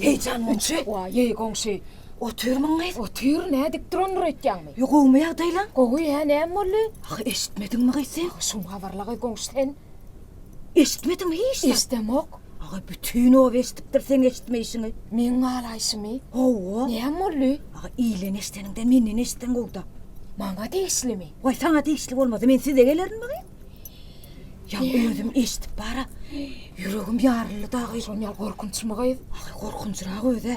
Heýjanlançy? Wa, ýeý, goňşy. Otyrmyň gyz? Otyr, nädip durandyr öýtýäňmi? Ýe, gowumy ýagdaýlaň? Gowy, hä, näme boldy? Ahy, eşitmediňmi gyz sen? Şuňa habarla gyz goňşy sen. Eşitmediňmi hiç zat? Eşdemok. Aga bütin oba eşdipdir seň eşitmeýşiňi. Meň galaýşymy? Hawa. Näme boldy? Aga ilden eşdeniňden menden eşitseň gowda. Maňa degişlimi? Waý saňa degişli bolmasa men size gelerin wagyn. Ýa özüm eşdip bara. Ýüregim ýaryldy dagy. Şony ýaly gorkunçmy gyz? Aga gorkunçrak özä.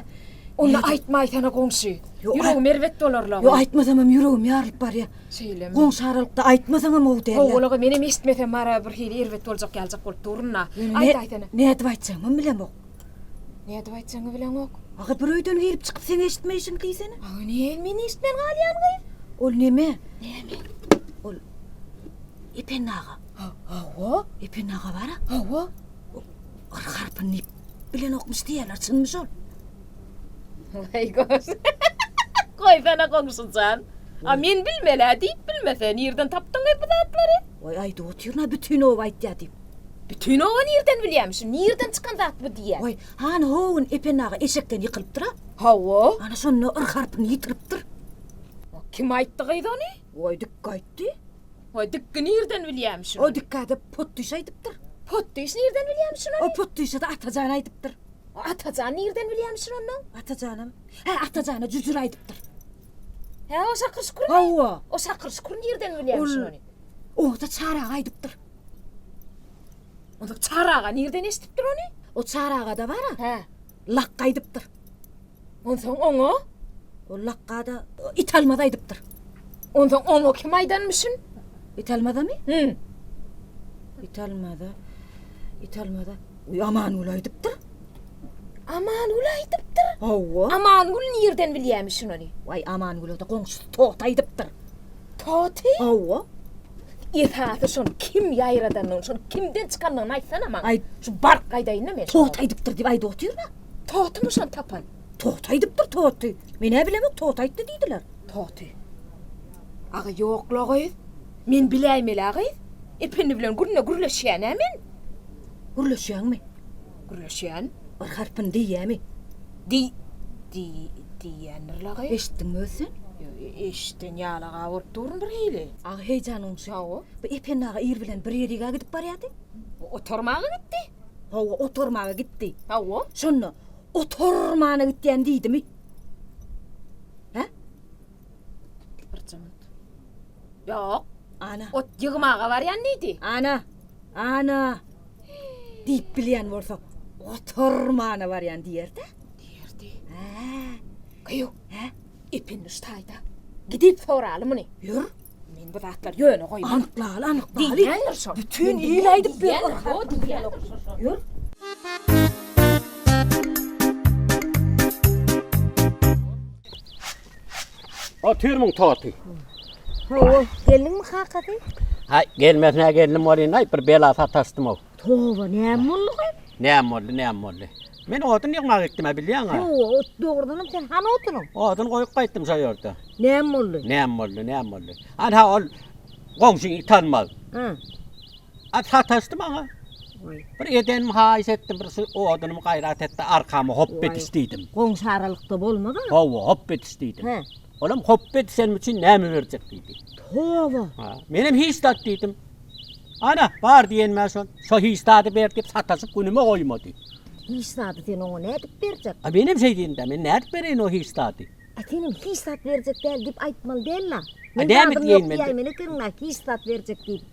Onda aýtmaýsana goňşy. Ýüregim erbet bolar la. Ýok aýtmasamam ýüregim ýarylyp barýa. Şeýlemi? Goňşy aralykda aýtmasaňam gowy dälýa. Gowy bolaga menem eşitmesem mara bir hili erbet boljak ýaljak bolup durun-a. Aýtaýsana. Nädip aýtjagymam bilemok. Nädip aýtjagyňy bileňok? Aga bir öýden gelip çykyp seň eşitme işiň diýsene. Aga näme men eşitmän galýan gyz? Ol neme? Näme? Ol Ependi aga. Hawa. Ependi aga bar-a. Hawa. Ol R harpyny nip bilenokmyş diýýärler çynmy şol? Weý goş. Goýsana goňşujan. A men bilmel-ä diýip bilmese, nirden tapdyň gez bu zatlary? Weý aýdyp otyryn-a bütin oba aýtýa diýip. Bütin oba nirden bilýämiş şu nirden çykan zat bu diýýä. Weý, hany howun Ependi aga eşekden ýykylypdyr-a? Hawa. Ana şonda yr harpyny ýitiripdir. Kim aýtdy gyz ony? Weý dikge aýtdy. Weý dikge nirden bilýämiş şuny? O dikge-de potdyş aýdypdyr. Potdyş nirden bilýämiş şuny? O potdyşa-da Atajan aýdypdyr. Atajan nirden bilýämişin onda? Atajanam? Hä, Atajana jüjür aýdypdyr. Hä, o Şakyr Şükürmi? Hawa. O Şakyr Şükür nirden bilýämişin ony? Ony-da Çary aga aýdypdyr. Onda Çary aga nirden eşidipdir ony? O Çary aga-da bar-a? Hä. Lakga aýdypdyr. Onsoň oňa? O Lakga-da Italmaz aýdypdyr. Onsoň oňa kim aýdanmyşyn? Italmaza-my? Hü. Italmaza. Italmaza. Amangül aýdypdyr. Amangül aýdypdyr? Hawa. Amangül nirden bilýämi şunony? Waý, Amangüle-de goňşusy Toty aýdypdyr. Toty? Hawa. Esasy şony kim ýaýradanyny, şony kimden çykanyny aýtsana maňa. Aý, şu baryp gaýdaýyn-da men. Toty aýdypdyr diýip aýdyp otyryn-a. Totymy şony tapan? Toty aýdypdyr, Toty. Men-ä bilemok, Toty aýtdy diýdiler. Toty. Aga ýok-la gyz. Men biläýmel-ä gyz, Ependi bilen günde gürleşýän-ä men. Gürleşýäňmi? Gürleşýän. Bir harpyny diýýämi? Diý, diý, diýýändir-le gyz. Eşitdiňmi özi sen? Eşiden ýaly-a bolup durun bir hili. Agy heýjanyň şowy. Bu Ependi aga ir bilen bir ýerik-ä gidip barýardy. Oturmaga gitdi. Hawa, oturmaga gitdi. Hawa. Şonda, Oturmana gitýän diýdimi? Hä? Birjemik. Ýok. Ana. Ot ýygmaga barýan diýdi. Ana. Ana. Diýip bilýän bolsa, ot ormana barýan diýer-dä. Diýerdi. Hä. Gyýw. Hä. Epindiş taýda. Gidip soraly muny. Ýör. Men bu zatlary ýöne goýman. Anyklaly, anyklaly. Diýýändir şol. Bütin il aýdyp ber. Ýör. Otyrmyň toty. Hawa, geldiňmi kakasy? Hay, gelmesine geldim bolýan, hay, bir bela sataşdym ow. Toba, näme boldy ki? Näme boldy, näme boldy? Men odun ýygmak gitdim, bilýäň ha. Hawa, ot dogrudan hem sen han otunyň. Odun goýup gaýtdym şo ýerde. Näme boldy? Näme boldy, näme boldy? Ana ol goňşyň it almaz. Hä. At sataşdy maňa. Bir edenim haýyş etdim, bir şu odunymy gaýrat etdi, arkama hop ediş diýdim. Goňşy aralykda bolmaz-a? Hawa, hop ediş diýdim. Hä. Olam hop edişenim üçin näme berjek diýdi. Toba! Ha, menem hiç zat diýdim. Ana, bar diýenime şol. Şo hiç zady ber diýip sataşyp günüme goýmady. Hiç zady sen oňa nädip berjek? A menem şeý diýdim-dä, men nädip bereýin o hiç zady? A senem hiç zat berjek däl diýip aýtmaly däl-la. Men zadym ýok diýäýmeli ekeniň-la, hiç zat berjek diýip.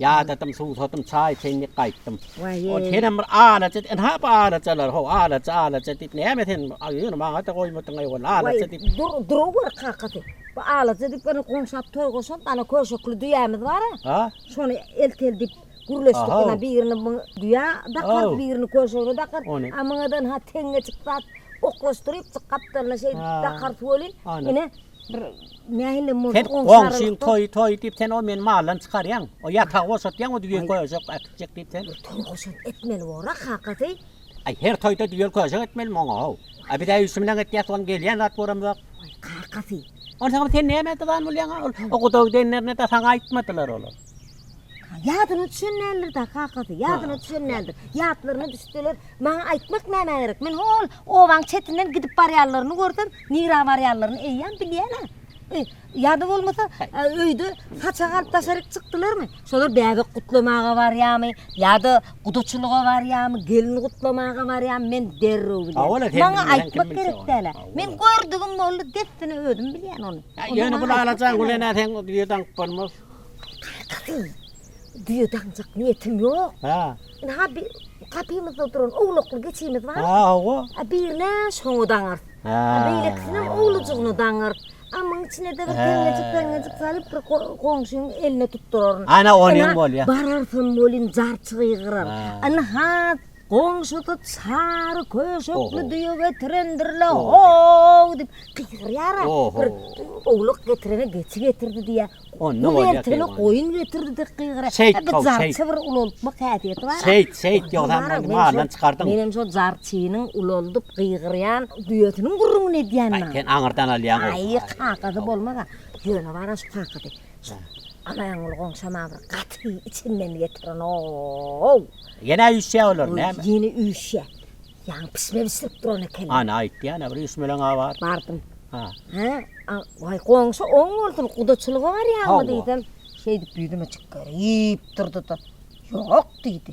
Ýadadym, suwsadym, çaý çeýnip gaýtdym. Ol senem bir alaja, ynha bu alajalar, ho, alaja, alaja diýip näme sen ýöne maňa-da goýmadyň-aý ol alaja diýip. Waý, dur, durup gör kakasy. Bu alaja diýip ýöne goňşap toý goşan dana köşekli düýämiz bar-a. A? Şony eltel diýip gürleşdik ynha birini muňa düýä dakarys, birini köşegine dakarys. Ony. A muňa-da ynha teňňeçik zat oklaşdyrypjyk gapdalyna şeýdip dakarys welin, ine, Bir nähilem bolsa Sen goňşyň toý toý diýip sen o meni maldan çykarýaň. O ýatagy boşatýaň o düýe köýjek äkitjek diýip sen. Toý goşant etmeli bora kakasy. Aý her toýda düýe köýjek etmelimi oňa how. A biz äýşi bilen etýäs oň gelýän zat bolam zok. Aý kakasy. Onsoňam sen näme dyzan bolýaň ol o gudaw gidenlerine de saňa aýtmadylar olar. Ýadyna düşen däldir da kakasy, ýadyna düşen däldir. Ýatlaryna düşseler, maňa aýtmak nämä gerek? Men hol obaň çetinden gidip barýanlaryny görsem, nirä barýanlaryny eýýäm bilýän-ä. E, ýa-da bolmasa, öýde saçak alyp daşaryk çykdylarmy? Şolar bäbek gutlamaga barýamy, ýa-da gudaçylyga barýamy, gelin gutlamaga barýamy, men derrew bilýän. Maňa aýtmak gerek däl-ä. Men gördügim boldy, dessine özüm bilýän ony. Ýöne bul alajaň Gülene seň ýüz aňyp bolmaz. Ertaky düýe daňjak niýetim ýok. Hä. Indi ha bir gapymyzda duran owlakly geçimiz bar. Hä, hawa. A birine şoňa daňar. Hä. A beýlekisinem owlujygyna daňar. A muň içine de bir peňňejik-peňňejik salyp bir goňşyň eline tutduraryn. Ana, ony hem bolýa. Bararsam welin jarçygy ýygrar. Indi ha Goňşusy çary köşekli düýe getirendir-le, ho-ow diýip gygyrýar-a, bir owlak getirene geçi getirdi diýýär, gul ertene goýun getirdi diýip gygyrýar. Şeýt bir jarçy bir ululykmak häsiýeti bar-a. Şeýt, şeýt, ýogsam meni maldan çykardyň. Men hem şol jarçynyň ululdyp gygyrýan düýesiniň gürrüňini edýän-ä. Sen aňyrdan alýaň-ow. Aý, kakasy bolmaz-a. Ýöne bar-a şu kakasy. Amanguly goňşam a bir gaty içinden getirin-ow. Ýene üýşýä olar näme? Ýene üýşýä. Ýaňy pişme bişirip duran ekeni. Ana aýtdy ýa-da bir üýşmeleň a bar. Bardym. Ha. Hä? A, waý goňşy oň bolsun gudaçylyga barýaňmy diýsem, şeýdip ýüzüme çyk gör iýip durdy-da, Ýok diýdi.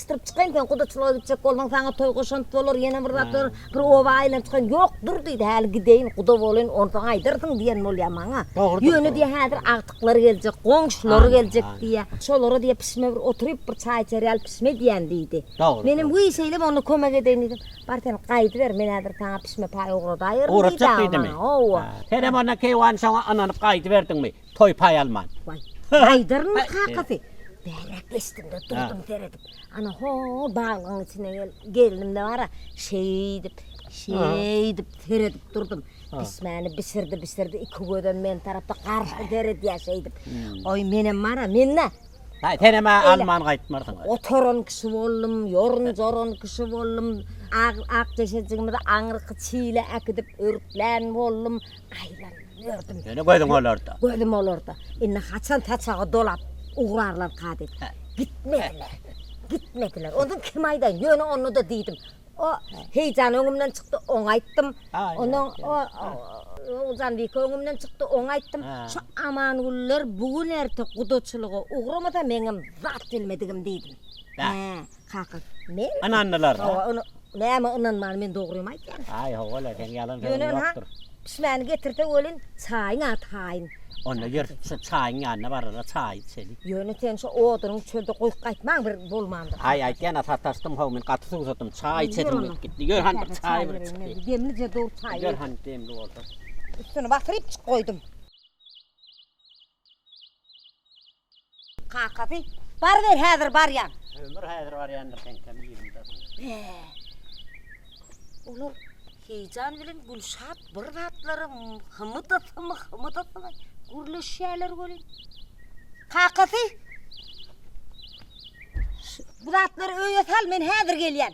Çytyryp çykaýyn, sen gudaçylyga gitjek bolsaň, saňa toý goşant bolar, ýene bir zat bolar, bir oba aýlanyp çykaýyn. Ýok, dur diýdi, häli gideýin, guda bolaýyn, onsoň aýdarsyň diýen bolýar maňa. Ýöne diýýär, häzir agtyklary geljek, goňşulary geljek diýýär. Şolara diýýär, pişime bir oturyp, bir çaý içer ýaly pişim edýän diýdi. Menem, Wiý, şeýlemi, onda kömek edeýin diýdim. Bar, sen gaýdyber, men häzir saňa pişime paý ugradaýaryn diýdi-ä maňa. Howa. Senem onda keýwany şoňa ynanyp gaýdyberdiňmi? toý paý alman. Waý, Haýdaryň kakasy. Bäräk geçdim-de durdum seredip. Ana ho, baglygyň içine gelip, gelnim-de bar-a, şeýdip, şeýdip seredip durdum. Bişmäni bişirdi, bişirdi, iki gözem men tarapa garşy seredýär şeýdip. Oý, menem bar-a, men-de. Haý, senem alman gaýtmarsyň. Oturan kişi boldum, ýorun-joran kişi boldum. Ak-ak deşejigimizi aňyrky çile äkidip örklän boldum. Aýlanyp ýördüm. Ýöne gözüň olarda. Gözüm olarda. Indi haçan saçaga dolap ugrarlarka diýip. Gitmediler. Gitmediler. Ondan kim aýdaýyn? Ýöne onda-da diýdim. O Heýjan öňümden çykdy, oňa aýtdym. Ondan o Oguljanbike öňümden çykdy, oňa aýtdym. Şu Amangüller bu gün-erte gudaçylyga ugramasa meňem zat bilmedigim diýdim. Hä. Kaka. Men? Ynandylar. Hawa, ony näme ynanman men dogrymy aýtýan. Aý hawa-la sen ýalan sözüň ýokdur. Pişmäni getirse welin çaýyň ady haýyn. Onda ýör şu çaýyň ýanyna barara çaý içeli. Ýöne sen şu odunyň çölde goýup gaýtmaň bir bolmandyr. Aý aýtýana sataşdym haw men gaty suwsadym çaý içesim gelip gitdi. Ýör hany bir çaý bir içeli. Demlije dur çaý. Ýör hany demli bolsa. Üstüni basyryp çyk goýdum. Kakasy, Baryber, häzir barýan. Ömür häzir barýandyr heňkem ýerinde. Be! Olar heýjan bilen Gülşat bir zatlara hymydysymy, hymydysymy gürleşýärler welin. Kakasy, Bu zatlary öýe sal, men häzir gelýän.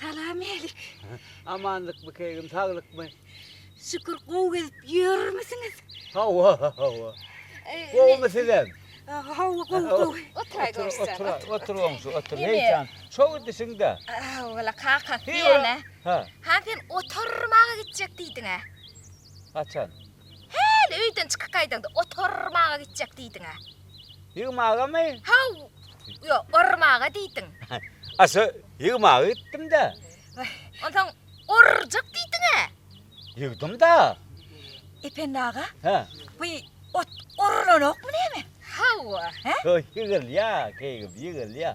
Salamälik. Amanlykmy kegim, saglykmy? Şükür, gowy gezip ýörmüsiňiz? Hawa, hawa. Gowumy sizem? Hawa, gowy, gowy. Oturay görüşsek. Otur, otur, otur goňşy, otur. Heý jan, şo idisiň-dä. Hawa-la, kakasy ýene. Ha, sen oturmaga gitjek diýdiň-ä. Haçan? Häli öýden çykyp gaýdaňda ot ormaga gitjek diýdiň-ä. Ýygmagamy? Haw, ýok, ormaga diýdiň. Aşa ýygmaga gitdim-dä. Onsoň orjak diýdiň-ä. Ýygdym-da. Ependi aga? Hä? Bu ot orulanokmy näme? Hawa. Hä? Ýygylýa, keýgim, ýygylýa.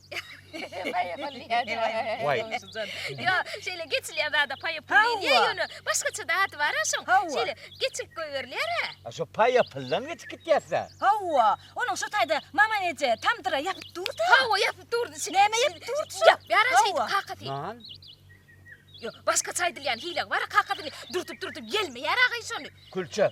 Paýa pul diýýärdi. Waý. Gowşujan. Ýo, şeýle geçilýän zada paýa pul Hawa. diýilýär ýöne başgaça-da ady bar-a şoň. Hawa. Şeýle geçirip goýberilýär-ä. A şo paýa puldan geçip gitýäs-dä. Hawa, onuň şo taýda Maman eje tamdyra ýapyp dur-da. Hawa, ýapyp durdy. Şeýle Näme ýapyp durdy şo? Ýapýar-a şeýdip Hawa. kakasy. Nan. Ýo, başgaça aýdylýan hile bar-a, kakasy dürtüp-dürtüp ýelmeýär-agay şony. Külçe.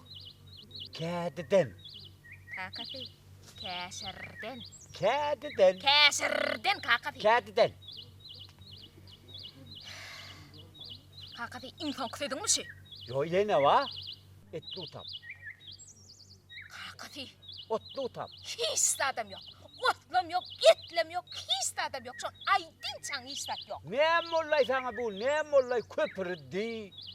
Kädiden. Kakasy. Käşirden. Kädiden. Käşirden kakasy. Kädiden. Kakasy iň soňky sözüňmi şu? Ýo ýene ba. Etli utap. Kakasy. Otly utap. Hiç zadam ýok. Otlam ýok, etlem ýok, hiç zadam ýok. Şony aýdynçaň hiç zat ýok. Näme bollaý saňa bu, näme bollaý köpürdi.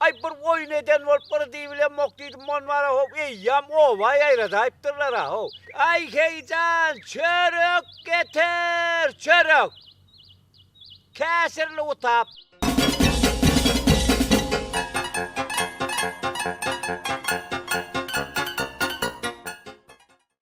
Aý, bir oýun eden bolup gyr diýibilemok diýdim, monwara how, eýýäm oba ýaýradaýypdyrlar-a, how. Aý, Heýjan, çörek getir, çörek! Käşirli utap.